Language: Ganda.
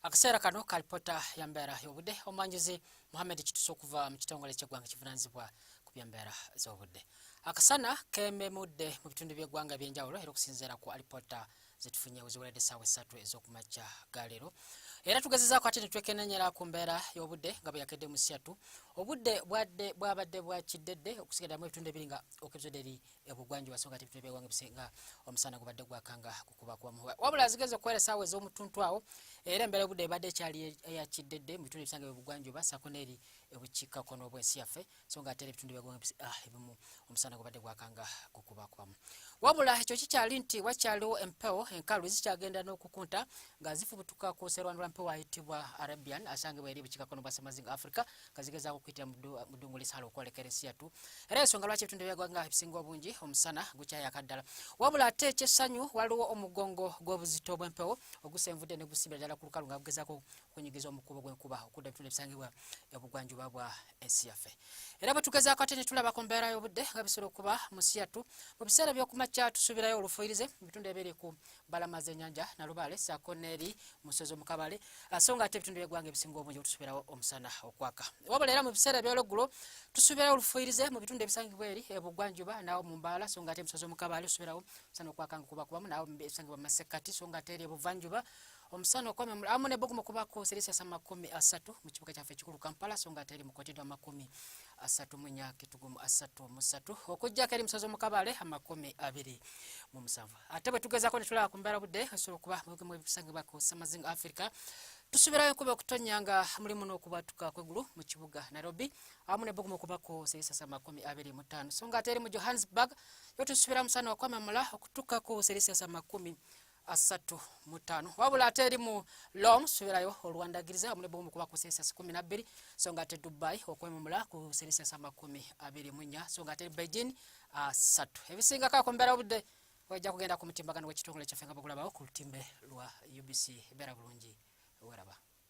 akaseera kano kalipota ya mbeera y'obudde omwanjuzi muhammed kitusa okuva mu kitongole ky'eggwanga kivunanyizibwa ku byembeera z'obudde akasana kememudde mu bitundu by'eggwanga eby'enjawulo era okusinziira ku alipota zetufunye weziweredde essaawa essatu ez'okumakya galeero era tugezezaako ate netwekenanyera ku mbeera y'obudde nga bweyakedde mu siyatu obudde bwadde bwabadde bwakiddedde okusigaddamu ebitundu ebiri nga okebzoderi ebugwanjuba so nga tebitebe wange bisenga omusana gubadde gwakanga kukuba kwa muwa wabula azigeze okwera saawa ez'omutuntu awo era embeera obudde ebadde ekyali eyakiddedde mu bitundu ebisange ebugwanjuba sako n'eri ebukiika kono obwensi yaffe so nga ate era ebitundu byagwange ah, ebimu omusana gubadde gwakanga kukuba kwamu wabula ekyo kikyali nti wakyaliwo empewo enkalu zikyagenda n'okukunta nga zifubutuka ku serwanula mpewo ayitibwa arabian asangibwa eri ebukiika kono bwa semazinga africa kazigeza okuyitira mu ddungu lisaala okwolekera ensi yattu era ensonga lwaki ebitundu byagwanga ebisinga obungi omusana gukyayaka ddala wabula ate ekyessanyu waliwo omugongo gw'obuzito bw'empewo ogusenvudde ne gusibira ddala ku lukalu nga gugezaako okunyigiza omukubo gw'enkuba okudda ebitundu ebisangibwa ebugwanjuba bwa ensi yaffe era bwe tugezaako ate ne tulaba ku mbeera y'obudde nga bisobola okuba mu nsi yattu mu biseera by'okumakya tusuubirayo olufuyirize mu bitundu ebiri ku balama zenyanja nalubaale saako neeri musozi omukabaale ah, so nga ate ebitundu byegwanga ebisinga obungi otusubirawo omusana okwaka wabula era mu biseera ebyolweggulo tusubirawo olufuyirize mu bitundu ebisangibwa eri ebugwanjuba eh, naawo mu mbaala so nga ate musozi omukabaale tusubirawo omusana okwaka nga kubakubamu naawo ebisangibwa mu masekkati so nga ate eri ebuvanjuba omusana okwame amu ne bogumo kuba ko serisi asa makumi asatu mu kibuga kyaffe ekikulu kampala so nga teri mukotedwa makumi asatu mu nyaka etugumu asatu musatu okujjako eri musozi omukabale amakumi abiri mu musanvu ate bwe tugezaako ne tulaba ku mbeera budde esobola okuba mubimu ebisangibwa ku samazinga africa tusubirayo kuba okutonya nga mulimu n'okubatuka kwegulu mu kibuga nairobi awamu ne bugumu okubako serisasa makumi abiri mu ttaano so nga ate eri mu johannesburg yo tusubira musana wakwamamula okutuka ku serisasa makumi asatu mu ttaano wabula ate eri mu lom subirayo olwandagiriza awamu ne bugumu okuba ku serisasa kumi nabbiri so nga ate dubai okwemamula ku serisasa makumi abiri mu nnya so nga ate eri beijing asatu ebisingako ku mbeera obudde wajja kugenda ku mutimbagano w'ekitongole kyaffe nga bagulabawo ku lutimbe lwa UBC beera bulungi weraba